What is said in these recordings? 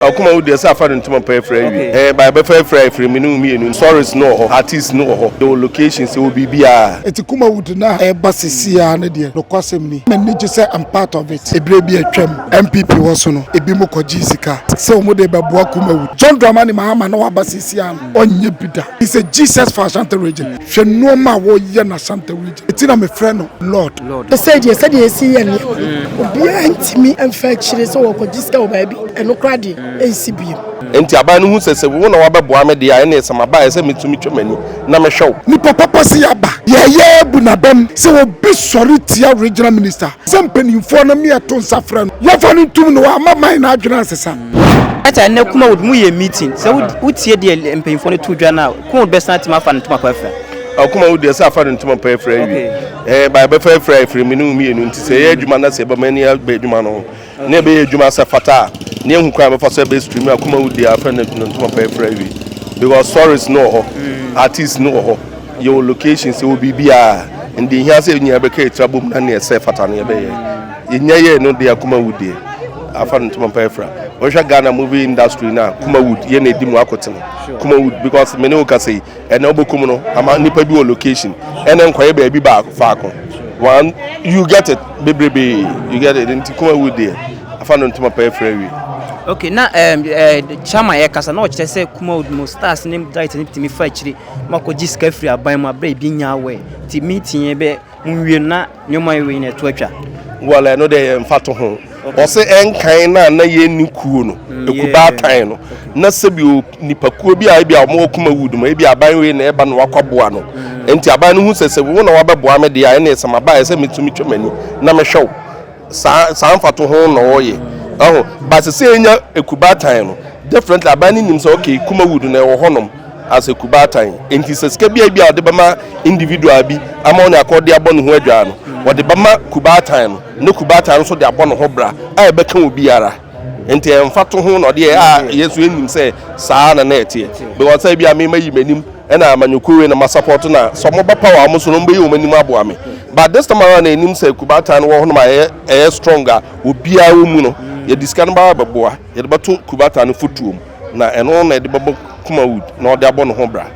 Akuma wo deɛ sɛ afa no ntoma paa afira awie okay ɛɛ by bɛfa afira afiri me ne wo mmienu stories no wɔ hɔ artist no wɔ hɔ yɛwɔ locations yɛwɔ biribiaa. Ɛti Kumawood no a ɛreba sesei ara no deɛ nokwasɛm ni m'ani gye sɛ I'm part of it. Ɛberɛ bi a atwam NPP wɔ so no ɛbinom kɔgyee sika sɛ wɔn de rebɛboa Kumawood. John Dramani Mahama na waba sesei ara no ɔnyɛ bi da. He's a Jesus for Ashanti region. Hwɛ nnoɔma a wɔreyɛ no Ashanti region. Eti na mefrɛ no Lord. Ɛsɛ deɛ sɛdeɛ ɛsi yɛ nneɛma no, mm. obiara ntumi mfa akyire sɛ wɔkɔgye sika wɔ baabi, ɛno koraa deɛ mm. ɛnsi biem. Enti aban no hu sɛ sɛ wo na wabɛboa me deɛ a ɛne ɛsɛ maba ɛsɛ metumi twam ani na mehwɛ wo. Nipa papa sɛ yɛaba yɛyɛ bu n'abam sɛ obi sɔre tia regional minister sɛ mpanimfoɔ no meɛ to nsa frɛ no yɛfa no ntum no wama man no adwene asesa. Ɛta ɛnɛ kuma wo mu yɛ meeting sɛ wotie deɛ mpanyinfoɔ no to dwa no a kuma wo bɛsan atumi afa no ntoma pa afira. ɔkoma wo deɛ sɛ afa no ntoma pɛ afiri awie ɛɛ ba ɛbɛfa afiri a ɛfiri mene wo mmienu nti sɛ ɛyɛ adwuma na sɛ ɛbɛma ani abɛ adwuma no ho na ɛbɛyɛ adwuma sɛ fata a ne ɛhu kwan bɛfa so ɛbɛ stream akoma wo deɛ afa no ntoma pɛ afiri awie because stories no wɔ hɔ mm. artist no wɔ hɔ yɛwɔ location sɛ wɔ biribiaa ɛnde ɛhia sɛ nyina bɛka ɛtira bom na ne ɛsɛ fata no yɛbɛyɛ yɛnya yɛ no deɛ akoma wo deɛ afa no ntoma pɛ afira wɔhwɛ ghana movie industry no a kuma wood yɛ na ɛdi mu akotene kuma wood because mene wo ka sɛ ɛna wobɛkum no ama nnipa bi wɔ location ɛna nkɔyɛ baabi baako faako one you get it bebrebe you get it nti kuma wu deɛ afa no ntoma pɛɛ frɛ wie okay na um, eh, chama yɛ kasa na ɔkyerɛ sɛ kuma wo mu stars ne guys ne tumi fa akyiri ma kɔgye sika firi aban mu abrɛ ebi nya awɛ nti meeting yɛ bɛ Monwie na nneɛma wei nyinaa ɛto atwa. Well ɛno deɛ yɛ mfa to ho. Ɔse ɛnkan na na yɛ ni kuo no, mm, ekubaa tan no. Na sɛbi o nipa kuo bi a ebi a ɔmo ɔkuma wood mo, ebi aban wei na ɛba na wakɔ boa no. Ɛnti mm. aban no hu sɛ sɛ wo na wabɛboa me deɛ a ɛne sɛ maba ɛsɛ metumi twɛ m'ani na mehwɛ wo. saa saa mfato ho na ɔyɛ ɛho ba sɛ sɛ enya ekubaatan no definitely aban no nim sɛ okay kumawood na ɛwɔ hɔnom as ekubaatan nti sɛ sika bi a bi a ɔde bɛma individual bi ama ɔne akɔde abɔ ne ho adwaa no wɔde bɛma kubaatan no ne kubaatan no nso de abɔ ne ho bra a ɛbɛka obiara Nti ɛyɛ mfatoho na ɔdeɛ a yɛn nso yɛnim sɛ saa na na ɛteɛ. Because sɛ ebia me mayi m'anim ɛna amanyɔkuo wei na masapɔto no a, sɛ wɔba power a wɔn so no wɔbɛyi wɔn anim aboa me. But this time around na yɛnim sɛ Kubata no wɔ hɔnom a ɛyɛ ɛyɛ strong a obiara wɔ mu no, yɛde sika no bɛba abɛboa, yɛde bɛto Kubata no fotuo mu. na ɛno na ɛde bɛbɔ Kumawood na ɔde abɔ ne ho bra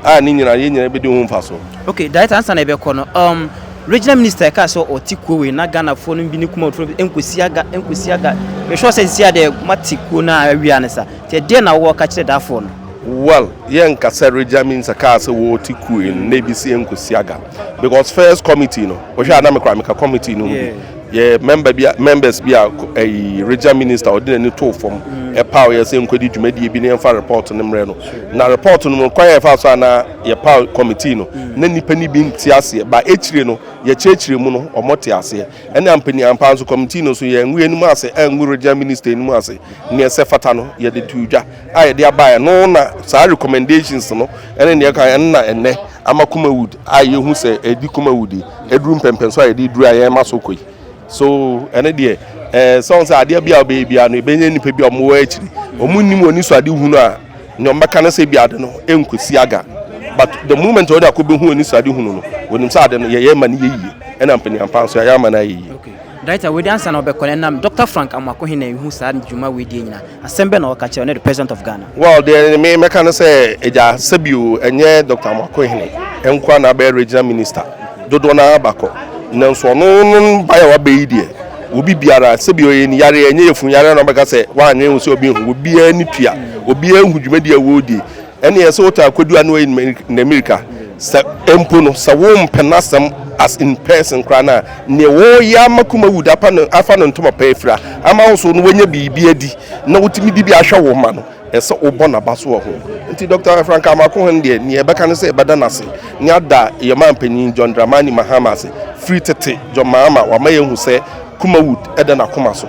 a ne nyinaa yɛn nyinaa bɛdi ho mfasoɔ. Okay, Director ansa na yɛbɛkɔ no, um, Regional Minister ɛkaa sɛ ɔte kuo wei na Ghanafoɔ no bi ne Kumawoodfoɔ no bi ɛnkɔsi aga ɛnkɔsi aga mehwɛ sɛ nsia deɛ mate kuo no a awia no sa nti ɛdeɛ na wowɔ ka kyerɛ daafoɔ no? Well, yɛnka sɛ Regional Minister kaa sɛ wɔte kuo wei no na ebi si ɛnkɔsi aga. because first committee no wohwɛ a na mekora meka committee no mu bi yɛ member bi members bi a ɛyi regional minister ɔde n'ani too fam mm. ɛpaw yɛ sɛ nkɔdi dwumadie bi ne yɛmfa report no mmerɛ no na report no mu kwan yɛ fa so a na yɛpaw committee no mm. na nnipa no bi nte aseɛ ba akyire no yɛkyerɛkyerɛ mu no ɔmɔ te aseɛ ɛne ampani ampa nso committee no so yɛngu anim ase angu regional minister anim ase neɛ sɛ fata no yɛde to dwa a yɛde aba ɛno na saa recommendations no ɛne nea ɛka ɛno na ɛnɛ ama Kumawood a yɛhu sɛ ɛdi Kumawood ɛduru mpɛmpɛn so a yɛde duru a yɛn ma so kɔ yi so ɛne deɛ ɛɛ sɛ wɔn sɛ adeɛ bi a ɔbɛyɛ bi a no ɛbɛnya nnipa bi a wɔn wɔ akyiri wɔn nim wɔn niso ade hunu a nea wɔn bɛka no sɛ bi ade no ɛnkɔsi aga but the moment wɔde akɔ bɛhu wɔn niso ade hunu no wɔnim sɛ ade no yɛyɛ ma no yɛ yie ɛna mpanyinpa nso yɛayɛ ama no ayɛ yie. Director wei de ansa na ɔbɛkɔ no ɛnam Doctor Frank Amoako he na ehu saa dwuma wei deɛ nyina. Asɛm bɛn na ɔka kyerɛ wo ne the President of Ghana? Well, deɛ me mɛka ne sɛ, Agya, sɛbio ɛnyɛ Doctor Amoako hene nko ara na abɛyɛ Regional Minister, dodoɔ no ara bakɔ, nanso ɔno ne baeɛ a wabɛ yi deɛ, obi biara, sɛbio ɔyɛ ne yareɛ, ɛnyɛ yafunu yareɛ na ɔbɛka sɛ wanyɛ ho sɛ ɔbɛhu, obiara ani tua, obiara hu dwumadie a wɔredi. Ɛneɛ sɛ wotaa kɔdu a na wayi namirika sɛ mpo no sɛ wompɛ nasɛm as in person koraa no a neɛ wɔyɛ ama Kumawude apa no afa no ntoma pa afira ama wo so no wanya biribi adi na wotumi de bi ahwɛ wo ma no ɛsɛ wobɔ naba so wɔ ho nti Dr. Frank Amoako-Hon deɛ neɛ ɛbɛka no sɛ yɛbɛda no ase ne ada yɛn manpanin John Dramani Mahama ase firi tete John Mahama wama yɛhu sɛ Kumawud da n'akoma so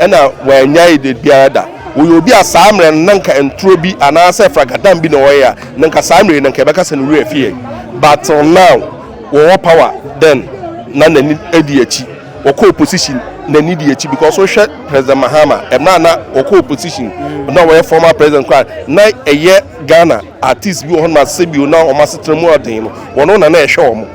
na wannyae da biara da. Ɔyɛ obi a saa mmerɛ no na nka nturo bi anaasɛ fragadam bi na ɔyɛ a na nka saa mmerɛ yi na nka yɛbɛka sɛ ne werɛ afi yɛn but till now wɔwɔ power then na n'ani di akyi wɔkɔ opposition n'ani di akyi because wohwɛ President Mahama mmerɛ a na wɔkɔ opposition na wɔyɛ former president koraa na ɛyɛ Ghana Artists bi wɔ hɔnom a sɛbio na wɔn asetena mu yɛ den no, wɔn na na ɛhwɛ wɔn.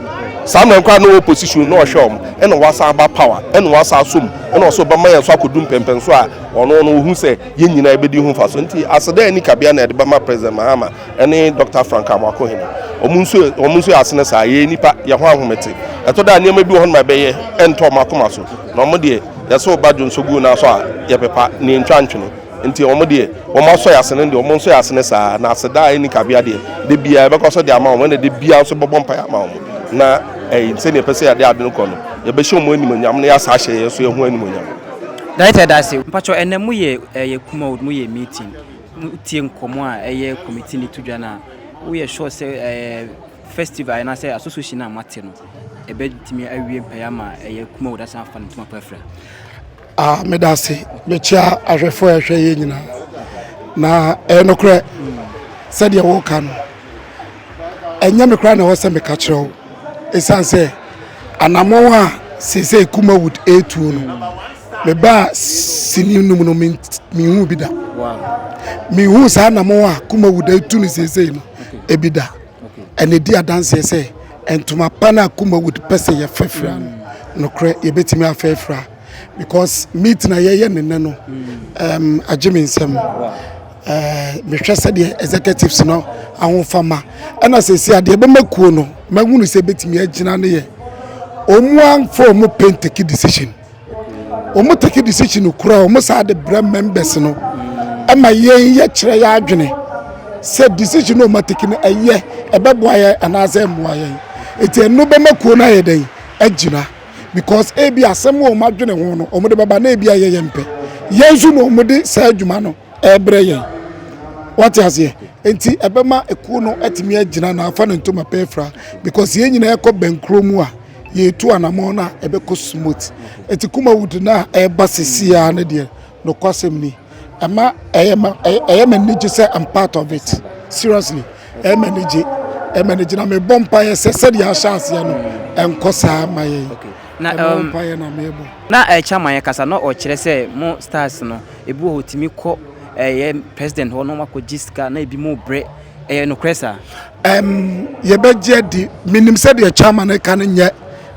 Saa mmerɛ no koraa na ɔwɔ position na ɔhwɛ wɔn, ɛna wasan aba power, ɛna wasan asɔ mu, ɛna ɔsɛ ɔbɛma yɛn nso akɔdu mpɛnpɛnsoɔ a ɔno no ɔhu sɛ yɛn nyinaa yɛbɛdi ho mfasoɔ. Nti aseda a ɛnni kabea na yɛde bɛma President Mahama ɛne Dɔkta Frank Amoako-Hene. Wɔn nso wɔn nso yɛ asene saa, yɛyɛ nnipa, yɛn ho ahomete. Ɛtɔ da a nneɛma bi wɔ hɔnom a ɛbɛyɛ ɛntɔ wɔn akoma so, na wɔn deɛ yɛsɛ ɔba dwonsɔ gu wɔn nan so a yɛpepa, na yɛntwa ntwene. Nti wɔn deɛ wɔn asɔ yɛn asene deɛ wɔn nsɔ yɛn asene saa na aseda a ɛni kabea deɛ de biara yɛbɛkɔ so de ama wɔn na de biara nso bɛbɔ mpaeɛ ama wɔn na ɛyi sɛdeɛ yɛpɛ sɛ yɛde ade no kɔ no yɛbɛhyɛ wɔn animonyam na yɛasa ahyɛ yɛn nso yɛn ho animonyam. Director da ase. Mpakyɛw ɛnɛ mo yɛ ɛyɛ Kumawood mo yɛ meeting mo tie nkɔmɔ a ɛyɛ committee ne to dwa no a wo yɛ sure sɛ ɛɛ festival ɛna sɛ association a mo ate no ɛbɛ tumi awie mpaeɛ ama ɛyɛ Kumawood asan afa ne ntoma pa afira? A meda ase mekyia ahwɛfoɔ a ɛhwɛ yɛ nyinaa na ɛyɛ nokorɛ sɛdeɛ woka no ɛnyɛ me koraa na ɛwɔ sɛ meka kyerɛ wo ɛsiane sɛ anammɔn a seesei Kumawood ɛretuo no mebaa sini num no mehu bi da mehu saa anammɔn a Kumawood ɛretu no seesei no ebi da ɛna ɛdi adanseɛ sɛ ntoma pa no a Kumawood pɛ sɛ yɛfɛfira no nokorɛ yɛbɛtumi afɛfira because meeting a yɛyɛ ne nnɛ no um, agye me nsɛm mehwɛ sɛdeɛ executives no ahofama ɛna sɛsi a deɛ ɛbɛma kuo no mahunu sɛ ɛbɛtumi agyina no yɛ ɔmu amfa ɔmu pen take decision ɔmu take decision kura ɔmu saa de brɛ members no ɛma yɛn yɛkyerɛ yɛ adwene sɛ decision ɔmu take no ɛyɛ ɛbɛboa yɛn anaasɛ ɛmmoa yɛn ɛti ɛno bɛma kuo no ayɛ dɛn agyina because ebi asɛm wɔ wɔn adwene ho no wɔn de bɛba na ebi ayɛ yɛn pɛ yɛn nso na wɔn de saa adwuma no ɛrebrɛ yɛn wɔte aseɛ nti ɛbɛma ekuo no atumi agyina na afa ne ntoma pɛ afira because yɛn nyinaa ɛkɔ bɛnkuro mu a yɛtu anamɔ na ɛbɛkɔ smooth eti kuma wood na ɛba sisi a ne deɛ. Nokwasɛm ni, ɛma ɛyɛ ma ɛyɛ ma anigye sɛ I'm part of it. Seriously, ɛyɛ ma anigye, ɛyɛ ma anigye na mebɔ mpaeɛ sɛ sɛdeɛ ahyɛ aseɛ no ɛnkɔ saa ma yɛn. Okay. Na ɛno um, mpaeɛ na mebɔ. Na ɛkyɛ ma yɛn kasa na ɔkyerɛ sɛ mo stars no ebi wɔ hɔ tumi kɔ ɛyɛ president hɔ na wɔn akɔgye sika na ebi mo brɛ ɛyɛ nokorɛ saa. Um, yɛbɛgye adi menim sɛdeɛ chairman ɛka no nyɛ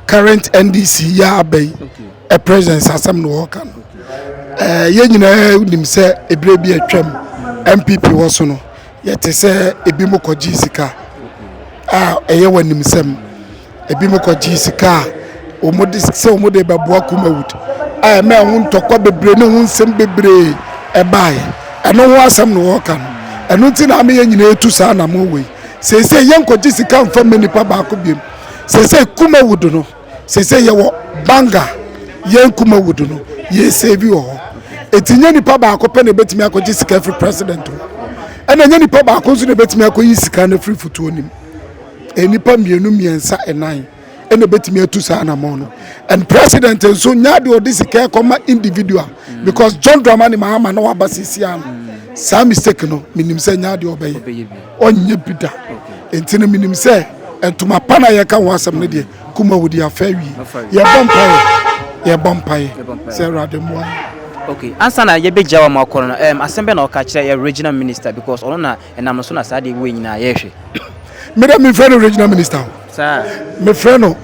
current NDC yɛ abɛyi. Okay. President asɛm na wɔka no ɛɛ yɛn nyinaa nim sɛ ebire bi atwam npp wɔ so no yɛte sɛ ebi mo kɔgye sika a ɛyɛ wɔ anim sɛm ebi mo kɔgye sika a wɔn de sɛ wɔn de bɛboa kumawut a ɛmɛ ɛho ntɔkwa bebree ne ho nsɛm bebree ɛbaeɛ ɛno ho asɛm na wɔka no ɛno ti na ama yɛn nyinaa etu saa na mo wɔ yi sɛ sɛ yɛn kɔgye sika nfa mɛ nipa baako biem sɛ sɛ kumawut no. sese yɛwɔ banga yɛn kumawood no yɛn save wɔ hɔ eti nye nipa baako pɛ na ebetumi akɔgye sika firi president o ɛna nye nipa baako nso na ebetumi akɔyi sika no firi futuo nim e, nipa mmienu mmiɛnsa ɛnan ɛna ebetumi atu saa anamɔn no and president nso nya de ɔde sika ɛkɔma individual mm. because john dramani mahama na waba sisi ano saa mistake no menim sɛ nya de ɔbɛyɛ. Ɔnyɛ bi da. Enti no menim sɛ ntoma pa no a yɛka ho asɛm no deɛ, Kumawu deɛ afa awie. Yɛbɔ mpaeɛ, yɛbɔ mpaeɛ sɛ Awurade mmoa yɛn. Okay, ansa na yɛbɛgya wo ama wakɔ no, um, asɛm bɛn na ɔka kyerɛ yɛ regional minister because ɔno na ɛnam no so na saa deɛ wei nyinaa yɛhwɛ. Me dɛ mefrɛ no regional minister o. Saa. Mefrɛ no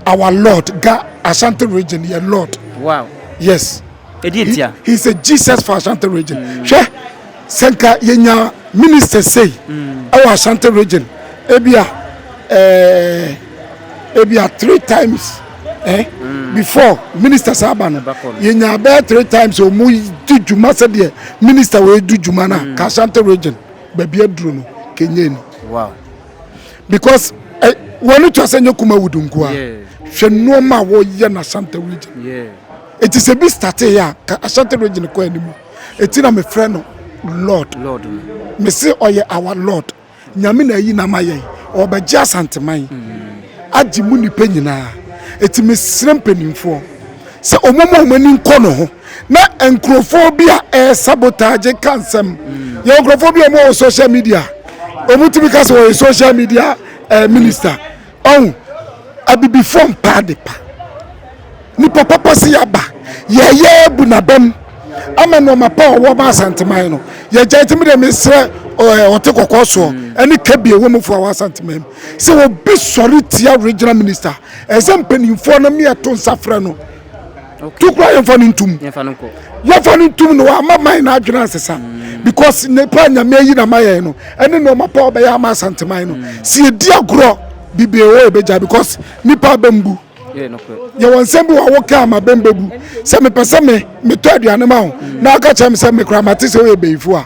our lord ga Ashanti region yɛ lord. Wow. Yes. Ɛdi ntia. He, he is a Jesus for Ashanti region. Mm. Hwɛ. Sɛ nka yɛnya ministers sei ɛwɔ Ashanti region ebia eh, ebia three times eh, mm. before ministers aba no yɛnya bɛyɛ three times ɔmu di dwuma sɛdeɛ minister wɔ ɛdu dwuma no a mm. ka Ashanti region baabi aduro no kɛnyɛ ni wow. because eh, wɔne twa sɛ nyɛ kuma wudu nko a hwɛ nnoɔma a wɔyɛ no Ashanti region ɛti sɛ bi starteɛ a ka Ashanti region kɔ anim Eti na mefrɛ no Lord. Lord no. Mese ɔyɛ our Lord. Nyame na ayi n'ama yɛn. Ɔrebɛgye Asanteman. Agye mu nnipa nyinaa. Eti mesrɛ mpanimfoɔ sɛ wɔn mu a wɔn ani nkɔ ne ho na nkurɔfoɔ bi a ɛresabotaagye ka nsɛm. Yɛwɔ nkurɔfoɔ bi a wɔwɔ social media. Wɔtumi ka sɛ wɔyɛ social media eh, minister. Ɔn, Abibifoɔ mpa adepa. Nipa papa se yɛaba, yɛɛyɛ abu n'abam ama nnoɔma pa a ɔwɔ ma Asanteman no. Yɛagya nti me deɛ mesrɛ eh, ɔte kɔkɔɔ soɔ hmm. ne Kebbi ɛwɔ mu foɔ a wɔ Asanteman mu sɛ obi sɔre tia regional minister ɛsɛ mpanimfoɔ no meɛto nsa frɛ no to kora yɛmfa no ntom yɛmfa no ntom no ama man no adwene ansesa mm. because nipa nyame ayi na ma yɛn no ɛne nneɛma pa ɔbɛyɛ ama asanteman no mm. si edi agorɔ bibie wɔ ɛbɛgya because nipa abɛmbu yɛwɔ nsɛm bi wɔ awo kaa ma bɛmbabu sɛ mepɛ sɛ me metɔ aduane ma wo na aka kyerɛ me sɛ mekora mate sɛ woyɛ bɛyifo a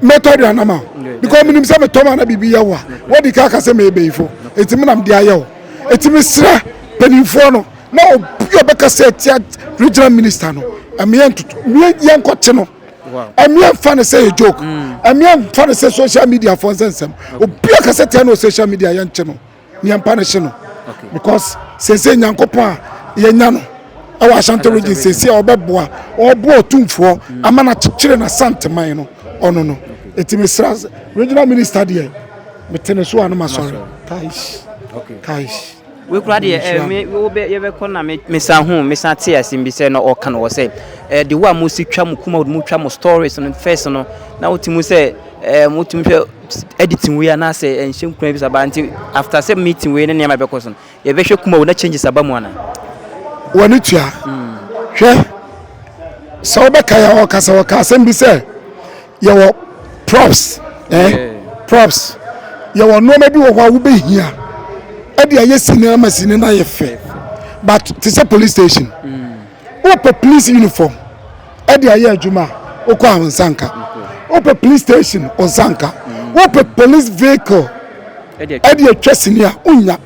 mɛtɔ aduane ma wo because menim sɛ metɔ ma na biribi yɛ wo a wadi ka aka sɛ meyɛ bɛyifo ɛti menam de ayɛ wo ɛti mesrɛ mpanimfoɔ no na obi a ɔbɛka sɛ atia regional minister no mmea ntoto mmea yɛn nkɔte no mmea nfa ne sɛ yɛ joke mmea mm. nfa ne sɛ social media fɔ nsɛnsɛm obi a kasa tia no social media yɛn kye no nea mpa ne hye no because sese nyankopɔn a yɛnya no ɛwɔ ashanti region sese a ɔbɛboa ɔboa ɔtumfoɔ mm. ama na kyekyere na santeman no ɔno no eti mesra regional minister deɛ metene so a no ma sɔre kaish kaish. Wei koraa deɛ eh, me, wobɛ, yɛbɛkɔ na me, mesan hu, mesan te asɛm bi sɛ na ɔka no wɔ sɛ, eh, de wo a mosi twa mo kuma mo twa mo stories no first no, na wote mu sɛ, eh, motumi hwɛ editing wei anaasɛ ɛnhyɛ nkura bi saba nti after sɛ meeting wei ne nneɛma ɛbɛkɔ so no, yɛbɛhwɛ kuma wo na changes aba mu ana? W'ani tua. Hwɛ, sɛ wobɛka yɛ ɔkasa ɔka asɛm bi sɛ, yɛwɔ props ɛɛ eh, props yɛwɔ nneɛma bi wɔ hɔ a wobɛhia ɛde ayɛ sini ama sini no ayɛ fɛ but te sɛ police station mm. wopɛ police uniform ɛde ayɛ adwuma a wokɔ a wo nsa nka wopɛ police station wo nsa nka mm. wopɛ police vehicle ɛde atwa sini a wonya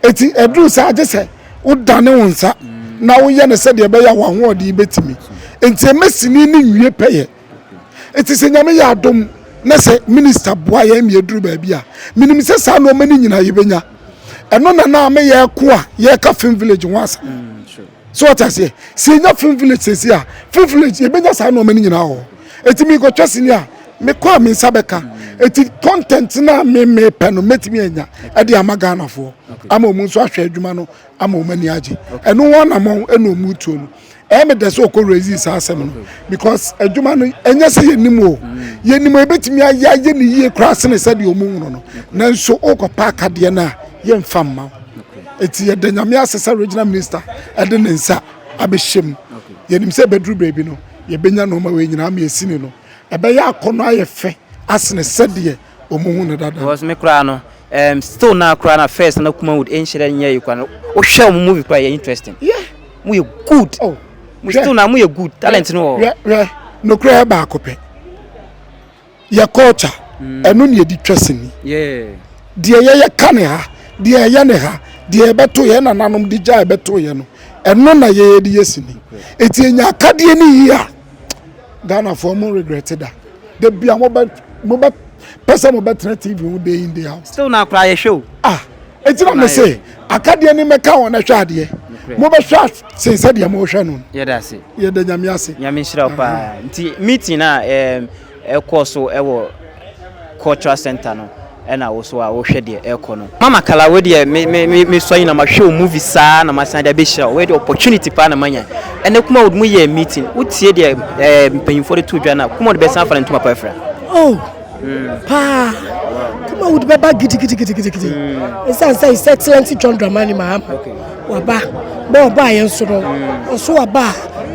Enti ɛduru saa a, gye sɛ wodane wo nsa na woyɛ no sɛdeɛ ɛbɛyɛ a w'ahoɔden bɛtumi. Enti ɛma sini no nwie pɛyɛ. Enti sɛ Nyame yɛ adom na sɛ Minista boa yɛn ma yɛduru baabi a, menim sɛ saa nnoɔma no nyinaa yɛbɛnya. Ɛno na na me yɛreko a yɛreka Fim Village ho asɛm. So wate aseɛ? Sɛ yɛnya film village sɛsi a, film village yɛbɛnya saa nnoɔma no nyinaa wɔ hɔ. Ɛti mekɔtwa sini a, mekɔ a me nsa bɛka. Ɛti content no a me mepɛ no mɛtumi anya ɛde ama Ghanafoɔ ama ɔmu nso ahwɛ adwuma no ama ɔmu ani agye. Ɛno ho anamɔn ɛna ɔmu tuo no. Ɛyɛ me dɛ sɛ ɔkɔ raising saa asɛm no because adwuma no ɛnyɛ sɛ yɛnim o. Yɛnim a yɛbɛtumi ayɛ ayɛ ne yie koraa sene sɛdeɛ ɔmu nwunu no. Nanso wokɔ paakadeɛ no a yɛmfa mma wo. Enti yɛda Nyame ase sɛ Regional Minister de ne nsa abɛhyɛ mu. Yɛnim sɛ ɛbɛduru baabi no, yɛbɛnya nnoɔma wei nyinaa ama yɛasi ne no. Ɛbɛyɛ akɔnnɔ ayɛ fɛ asene sɛdeɛ wɔhu no dada no. Because me koraa no, um, still now koraa na first na Kumawood nhyerɛ nyɛ yi koraa no. Wohwɛ wɔn movie koraa yɛ interesting. Yeah. Mo yɛ good. Oh. Mo still now mo yɛ good. Talent no wɔ. Hwɛ hwɛ. Nokorɛ baako pɛ. Yɛ culture, ɛno na yɛde twa sini. Deɛ yɛyɛ ka ne ha, deɛ ɛyɛ ne ha, deɛ yɛbɛto yɛn nananom de gya ɛbɛto yɛn no, ɛno na yɛyɛ de yɛ sini. Eti yɛnya akadeɛ ne yie a, Ghanafoɔ mo regret da. Da bi a mobɛ mobɛ pɛ sɛ mobɛtena TV ho day in day out. Still na koraa yɛhwɛ o. Ah, eti na me se akadeɛ ne mɛka wɔn ɛhwɛ adeɛ. Mobɛhwɛ Sen sɛdeɛ mohwɛ no. Yɛda ase. Yɛda Nyame ase. Nyame nhyira wo paa. Nti meeting a um, ɛkɔɔ so ɛwɔ cultural center no ɛna wo so a wohwɛ deɛ ɛkɔ no. Mama Kala wei deɛ me me me me sɔ yi na mahwɛ wo movie saa na masan de abɛhyira wo. Wei deɛ opportunity paa na manya. Ɛnɛ kuma wode mu yɛɛ meeting. Wotie deɛ eh, mpanyinfoɔ de to dwa na kuma wode bɛsan afa no ntoma pa afira. Oh! paa kuma wode bɛba gidigidigidigidi ɛsiane sɛ sɛ excellent john dramani mahama waba bɛ ɔba a yɛn so no ɔso waba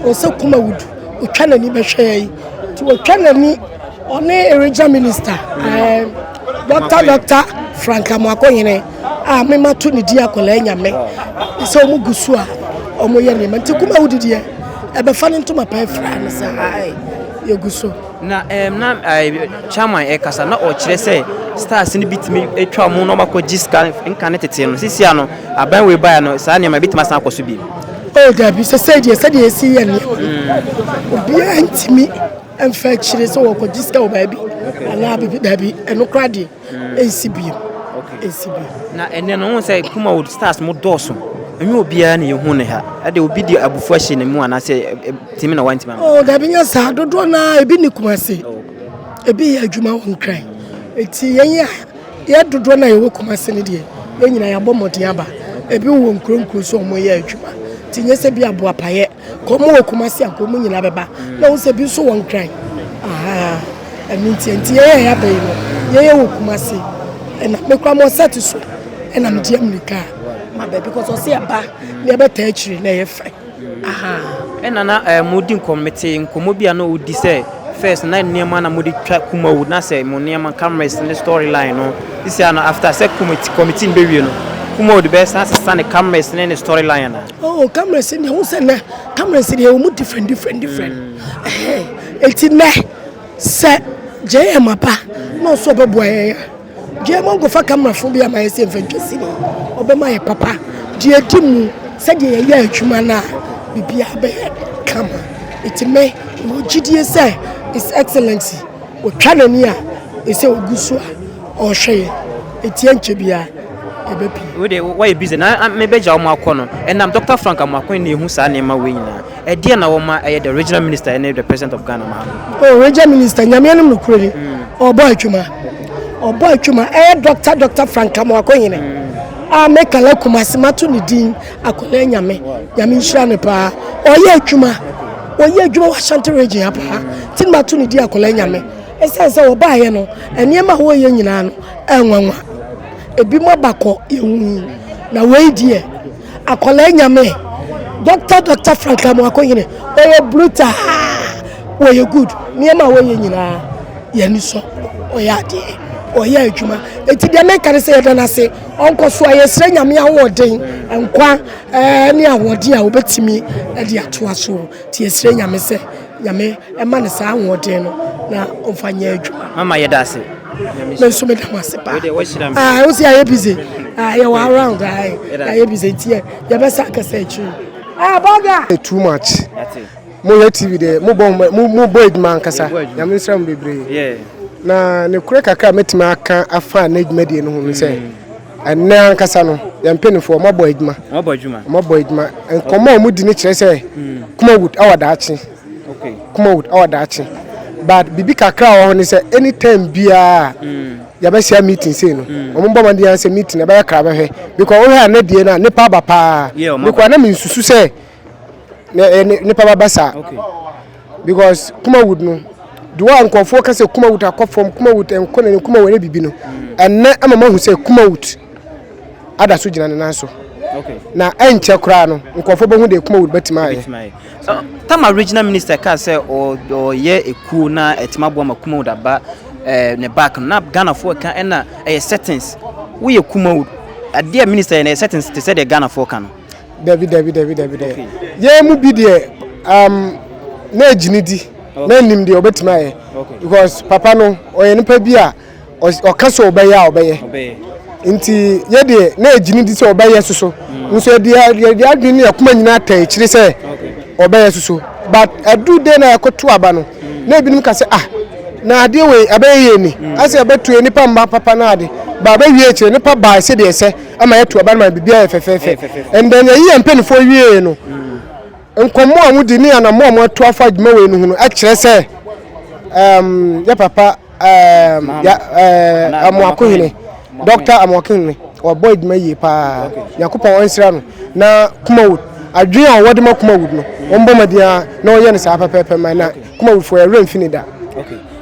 a ɔsɛ kuma wodu ɔtwa n'ani bɛhwɛ yɛn nti ɔtwa n'ani ɔne regional minister dɔkta dɔkta frank amoakɔnyene a mema to ne di akɔlaa nyame sɛ ɔmo gu so a ɔmo yɛ nneɛma nti kuma wodi deɛ ɛbɛfa ne ntoma paa fira no sɛ yɛgu so Na ɛɛm na ɛɛ chairman ɛkasa na ɔkyerɛ sɛ stars no bi tumi atwa wɔn na wɔakɔgye sika nka ne tete no sisi ano aban wei baeɛ no saa nneɛma ebitumi asan akɔ so bi. Oh dabi sɛsɛ deɛ sɛdeɛ esi yɛ nneɛma no mm. obiara ntumi mfa akyire sɛ wɔkɔgye sika wɔ baabi anaa bibi dabi ɛno kora deɛ. ɛnsi bio ɛnsi bio. na ɛnɛ no wohu sɛ kuma wo stars mo dɔɔso ɛnyɛ obiara na yɛhu ne ha ɛde obi de abufu ahyɛ ne mu anaasɛ timi na wantimi ama oh, dabi nyɛ saa dodoɔ no a ebi ne kuma se ebi yɛ adwuma wɔ nkran nti yɛn yɛ yɛ dodoɔ no a yɛwɔ kuma se no deɛ yɛn nyinaa yɛabɔ mmɔden aba ebi wɔ nkuro nkuro so wɔyɛ adwuma nti nyɛ sɛ bi aboapayɛ Kɔm wɔ Kumasi a kɔm nyinaa bɛba na wohu sɛ bi nso wɔ Nkran. Ahaa ɛno nti nti yɛyɛ a yɛaba yi no yɛyɛ wɔ Kumasi ɛna me kora mo sɛte so ɛna medi amirika ma baabi kɔ sɛ ɔse ɛba na yɛbɛtaa akyiri na ɛyɛ fɛ. Ahaa. Ɛna na eh, modi nkɔm mete nkɔmmɔ bi a na ɔdi sɛ first na nneɛma na mode twa Kumawu na sɛ mo nneɛma cameras ne storyline no sisi a no after sɛ committee committee no bɛwie no Kumawu de bɛsan asesa ne cameras ne ne storyline anaa? Oh cameras ni ɛho sɛ nɛ cameras deɛ ɛwɔ mu different different different ɛti nɛ sɛ JM apa na ɔsɛ ɔbɛboa yɛn a JM ɔnkɔfa camera fo bi ama yɛ sɛ mfa ntwa sini ɔbɛma yɛ papa deɛ ɛdi mu sɛdeɛ yɛyɛ adwuma no a biribiara bɛyɛ kama ɛti mɛ ɛwɔ gyidie sɛ is excellent ɔtwa n'ani a ɛsɛ ɔgu so a Ɔhwɛ yɛ, etia nkyɛ biaa yɛbɛ pie. Wei de wayɛ busy na me bɛ gya wɔn akɔ no ɛnam Doctor Frank Amoakwan na ehu saa nneɛma wei nyinaa ɛdeɛn na wɔma ɛyɛ the regional minister ɛne the president of Ghana ma ano. Oh region minister nyameɛ nom no kuro ni ɔbɔ atwuma ɔbɔ atwuma ɛyɛ Doctor Doctor Frank Amoako hene a me kala kumase mato ne din akɔlɛ nyame nyame nhyira ne paa ɔyɛ atwuma ɔyɛ adwuma wɔ Ashanti region ha paa ti mato ne din akɔlɛ nyame. Esiane sɛ wɔbaeɛ no, nneɛma a wɔreyɛ nyinaa no ɛyɛ nwanwa. Ebinom aba kɔ yɛnhu yi. Na wei deɛ akwadaa nyame Dɔkta Dɔkta Frank Amoako Hene ɔyɛ brutaa wɔyɛ good nneɛma a wɔyɛ nyinaa yɛn ani sɔ ɔyɛ adeɛ ɔyɛ adwuma eti deɛ meka ne sɛ yɛda no ase ɔnkɔ so a yɛsrɛ nyame ahoɔden nkwa ɛɛ ne ahoɔden a wɔbɛtumi ɛde atoa so ti yɛsrɛ nyame sɛ Nyame ɛma no saa ahoɔden no na ɔmfa nyɛ adwuma. Mama yɛda ase. Me nso meda mo ase paa. Ah, wo si ayɛ busy. Ah, yɛ wɔ around ah, ayɛ busy nti yɛ yɛbɛsa akasa akyiri. Ah, bɔga. Too much. Mo yɛ TV de mo bɔ mo mo bɔ edwuma ankasa. Nyame nsira mo bebree. Na ne kure kakra metumi aka afa n'edwuma die no ho no sɛ. Mm. Ɛnnɛ ankasa no, yɛn mpanimfoɔ wɔabɔ adwuma. Wɔabɔ adwuma. Wɔabɔ adwuma. Nkɔmmɔ a wɔdi no kyerɛ sɛ hmm. Kumawood awɔ daakye. Okay. Kumawood awɔ daakye. But biribi kakra wɔ hɔ ne sɛ anytime biara hmm. yɛbɛhyia meeting sei no hmm. wɔn bɔ mmɔden sɛ meeting ɛbɛyɛ kra bɛhwɛ because wohwɛ a ne deɛ no a nipa aba paa because na mensusu sɛ na ɛyɛ ne nipa ba basa because kumawud no deɛ a nkurɔfoɔ ka sɛ kumawud akɔ fam kumawud nkɔ n'anim kumawud ɛyɛ bibi no ɛnɛ ama mahu sɛ kumawud ada so gyina ne nan so na ɛnkyɛ koraa no nkurɔfoɔ bɛhu deɛ kumawud bɛtumi ayɛ uh, tama regional minister kaa sɛ ɔyɛ ekuo na ɛtumi aboa ma kumawud aba eh, ne back no na ghanafoɔ ka ɛna ɛyɛ settings woyɛ kumawud adeɛ a minister yɛ na ɛyɛ settings te sɛ deɛ ghanafoɔ ka no dabi dabi dabi dabi dɛ yɛn mu bi deɛ um, na agyini di na anim deɛ ɔbɛtumi ayɛ because papa no ɔyɛ nipa bi a ɔka sɛ ɔbɛyɛ a ɔbɛyɛ nti yɛ deɛ na agyini di sɛ ɔbɛyɛ soso mm. nso yɛde adwene ne akoma nyinaa ata akyire sɛ ɔbɛyɛ soso but adu dɛ na yɛkɔto aba no mm. na ebinom ka sɛ ah na adeɛ wei abɛyɛ yɛ ni mm. asɛ ɛbɛto yɛ nipa mma papa no ade ba abɛwie akyire nipa baa sɛdeɛ ɛsɛ ama yɛatu aba no ma biribiara yɛ fɛfɛɛfɛ and then yɛyi yɛn mpanimfoɔ wiee no nkɔmmɔ a modi ne anamɔ a moatu afa adwuma wei no ho no kyerɛ sɛ um, yɛ papa um, ya, uh, amoakohene dɔkta amoakohene ɔbɔ adwuma yie paa nyankopɔn ɔnsira no na kuma wo adwene a wɔde ma kuma wud no wɔmbɔ mmɔden a na wɔyɛ no saa pɛpɛɛpɛ ma na kuma wudfoɔ yɛwerɛ mfi ne da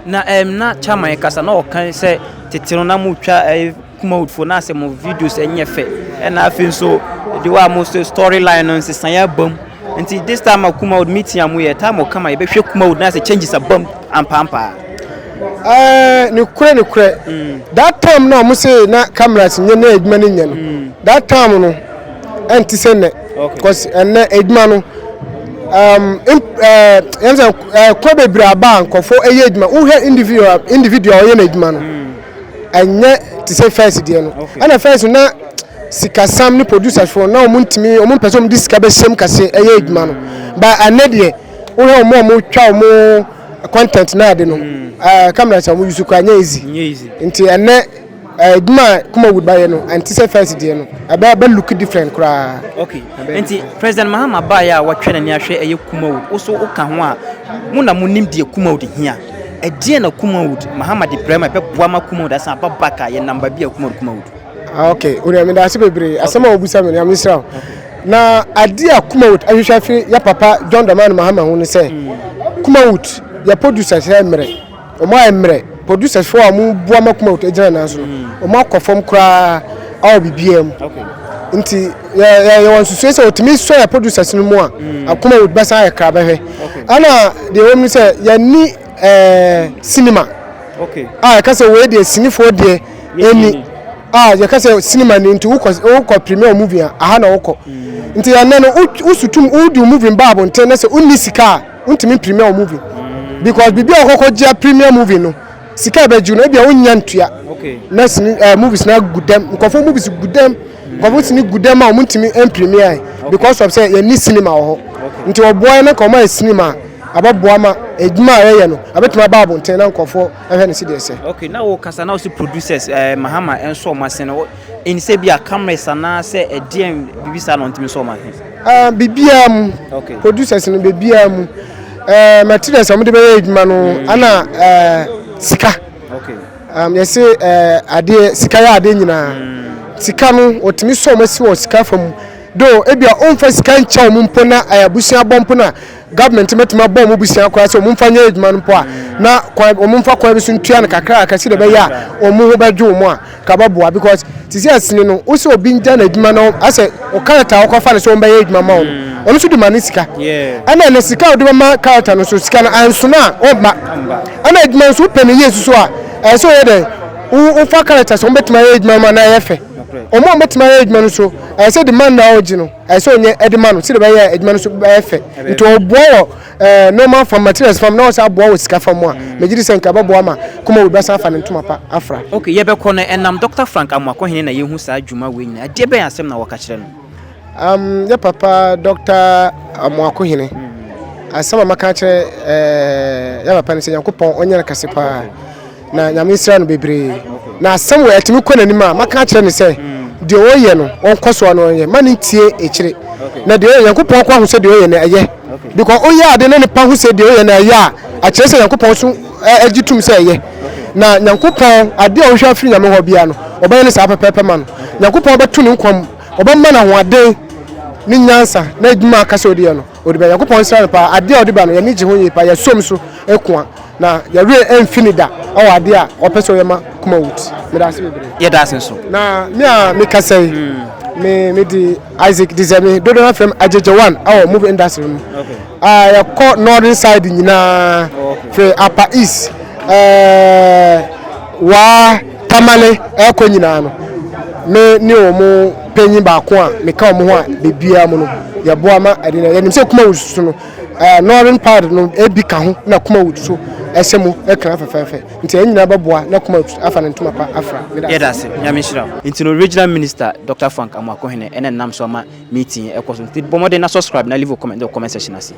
na ɛm na chairman kasa na ɔka sɛ tete no na motwa Mode fo na sɛ mo videos ɛnyɛ fɛ ɛna afei nso the way mo sɛ story line no nsesaeɛ abam nti this time a Kumawod meeting a mo yɛ time ɔkama yɛbɛhwɛ Kumawod na sɛ changes abam ampaampaa. Ɛɛ ne korɛ ne korɛ mm. that time na mo sɛ na cameras nyɛ na adwuma no nyɛ no mm. that time no ɛnti sɛ nɛ cause ɛnɛ adwuma no um, eh, yɛn sɛ eh, kɔ bebree aba a nkɔfo ɛyɛ adwuma wohwɛ individual individual ɔyɛ n'adwuma no. Mm. ɛnyɛ te sɛ fɛs deɛ no ɛna fɛs no na sikasam ne producers foɔ na wɔn ntumi wɔn mpɛ sɛ wɔn de sika bɛhyɛm kɛse ɛyɛ adwuma no ba ɛnɛ deɛ wohwɛ wɔn a wɔn twa wɔn content na ade no ɛɛ kamera sɛ wɔn yusu kora nyɛ easy nti ɛnɛ ɛɛ adwuma a kuma wood bayɛ no ɛnte sɛ fɛs deɛ no ɛbɛ ɛbɛ look different koraa. okay nti president mahama baayɛ a wɔtwɛ n'ani ahwɛ ɛyɛ kuma wood woso woka ho a mo na mo nim deɛ kuma wood hia. Ɛdeɛn na Kumawood Mahamadi Brɛma bɛboa ma Kumawood asan aba back a yɛnam baabi a Kumawood Kumawood? Ah, ok, wura meda ase bebree asɛm a wobusa me no nyame nhyira wo. Na adeɛ a Kumawood ahwehwɛ afiri yɛ papa John Dramani Mahama ho ne sɛ Kumawood yɛ producers yɛ mmerɛ wɔn ayɛ mmerɛ producers foɔ a wɔn boa ma Kumawood gyina nan so no wɔn akɔ fam koraa awɔ biribiara mu nti Yɛwɔ nsusuiɛ sɛ ɔtumi sɔ yɛ producers no mu a akoma would bɛsan ayɛ kra bɛhwɛ ɛna deɛ ɛwɔ mu sɛ yɛni cinema a yɛka sɛ wei deɛ sinifoɔ deɛ ɛni a yɛka sɛ cinema ni nti wokɔ premier movie a aha na wokɔ nti yɛnɛ no wosutum wodi wo movie ba abonten na sɛ wonni sika a wontumi premier wo movie because biribi a wɔkɔkɔ gyea premier movie no Sika a ɛbɛgye wo no, ebia wonnya ntua. Na sini ɛɛ eh, movies na gu dɛm. Nkɔfo movies gu dɛm. Nkɔfo sini gu dɛm a wɔn ntumi mpremia yɛ because of sɛ yɛn ni cinema wɔ hɔ. Nti wɔboa yɛn na nka wɔn ayɛ cinema a abɛboa ma edwuma a yɛyɛ no abɛtumi aba abɔnten na nkɔfo ɛhwɛ no si deɛ sɛ. Okay, na wo kasa na wo si producers ɛɛ eh, Mahama ɛnso wɔn ase no. Ɛni sɛ ebia cameras anaasɛ ɛdeɛn biribi saa na ɔntumi sɔ ɔma he? Ah, biribiara mu. Okay. Producers no biribiara mu. Eh, materials a wɔde bɛyɛ adwuma no mm. ana eh, sika. Okay. Um, yɛse eh, adeɛ sika yɛ adeɛ nyinaa. Mm. Sika no wɔtumi sɔ wɔn asi wɔ sika fa mu. Do ebia ɔmfa sika nkyɛ wɔn mpo na eh, abusua bɔ mpo na Government bɛtumi abɔ wɔn abusua koraa sɛ wɔmfa nyɛ adwuma no mpo a, na kwan wɔmfa kwan bi so ntua no kakraka sɛdeɛ ɛbɛyɛ a wɔn ho bɛdwo wɔn a, nka bɛboa because te sɛ asini no, wo sɛ obi ngya n'adwuma na asɛ wo character a wɔkɔfa no sɛ wɔbɛyɛ adwuma ma wo no, ɔno nso de ma ne sika. Ɛna ɛnɛ sika a wode bɛma character no nso, sika no ansono a, ɔmma. Ɛna adwuma nso wopɛ no yie nso so a, ɛsɛ sɛ woyɛ dɛn? Wo wofa character sɛ wɔbɛtumi ayɛ adwuma no ma no ayɛ fɛ. Wɔn a wɔbɛtumi ayɛ adwuma no nso, ɛsɛ sɛ the man no a wogye no, ɛsɛ sɛ ɔnyɛ de ma no sɛdeɛ bɛyɛ adwuma no so bɛyɛ fɛ nti ɔboa wɔ eh, normal fam materials fam na ɔsɛ aboa wɔ sika fam a mm. megye di sɛ nka bɛboa ma kuma wo bɛsan afa ne ntoma pa afra ok yɛbɛkɔ no ɛnam dr frank amoakɔhene na yɛhu saa adwuma wei nyina ɛdeɛ bɛyɛ asɛm na wɔka kyerɛ no um, yɛ papa dr amoakɔhene mm. asɛm a maka kyerɛ eh, yɛ papa no sɛ nyankopɔn ɔnyɛ no kɛse paa Na Nyame nhyira no bebree. Na asɛm wei ɛtumi kɔ n'anim a, mɛka akyerɛ no sɛ deɛ ɔreyɛ no ɔnkɔ soɔ na ɔnyɛ. Mma no ntie akyire. Na deɛ ɔyɛ, Nyankopɔn nko ara hu sɛ deɛ ɔyɛ no ɛyɛ. Because woyɛ adeɛ na nipa hu sɛ deɛ woyɛ no ɛyɛ a, ɛkyerɛ sɛ Nyankopɔn nso gye tom sɛ ɛyɛ. Na Nyankopɔn, adeɛ a ɔhwehwɛ afiri Nyame hɔ biara no, ɔbɛyɛ no saa pɛpɛɛpɛ ma no. Nyankopɔn bɛto ne nkwa mu, ɔbɛma no ahoɔden ne nyansa na adwuma a aka sɛ ɔde yɛ no, Odi bɛ Nyankopɔn nsra no paa. Ade a ɔde ba no, yɛn ani gye ho yie paa. Yɛsom nso koa, na yɛn werɛ remfi no da wɔ ade a ɔpɛ sɛ ɔyɛ ma Kumawut. Meda ase bebree. Yɛda ase nso. Na me a mekasa yi, me mede Isaac Dizeme, dodoɔ no ara frɛ me Agyegye One wɔ movie industry mu. A yɛkɔ northern side nyinaa, firi Apa East, ɛɛ, Waa, Tamale ɛrekɔ nyinaa no, me ne wɔn panyin baako a meka wɔn ho a bebiara mu no, yɛboa ma ɛde no. Yɛnim sɛ Kumawood so no, ɛɛ Northern part no ebi ka ho na Kumawood so ɛhyɛ mu ɛkran fɛfɛɛfɛ. Nti yɛn nyinaa bɛboa na Kumawood afa ne ntoma pa afra. Yɛda ase. Nyame nhyira wo. Nti no Regional Minister Doctor Frank Amoako Hene ɛna nam so ama meeting yi ɛkɔ so. Nti bɔ mmɔden na subscribe na leave wo comment wɔ comment section ase.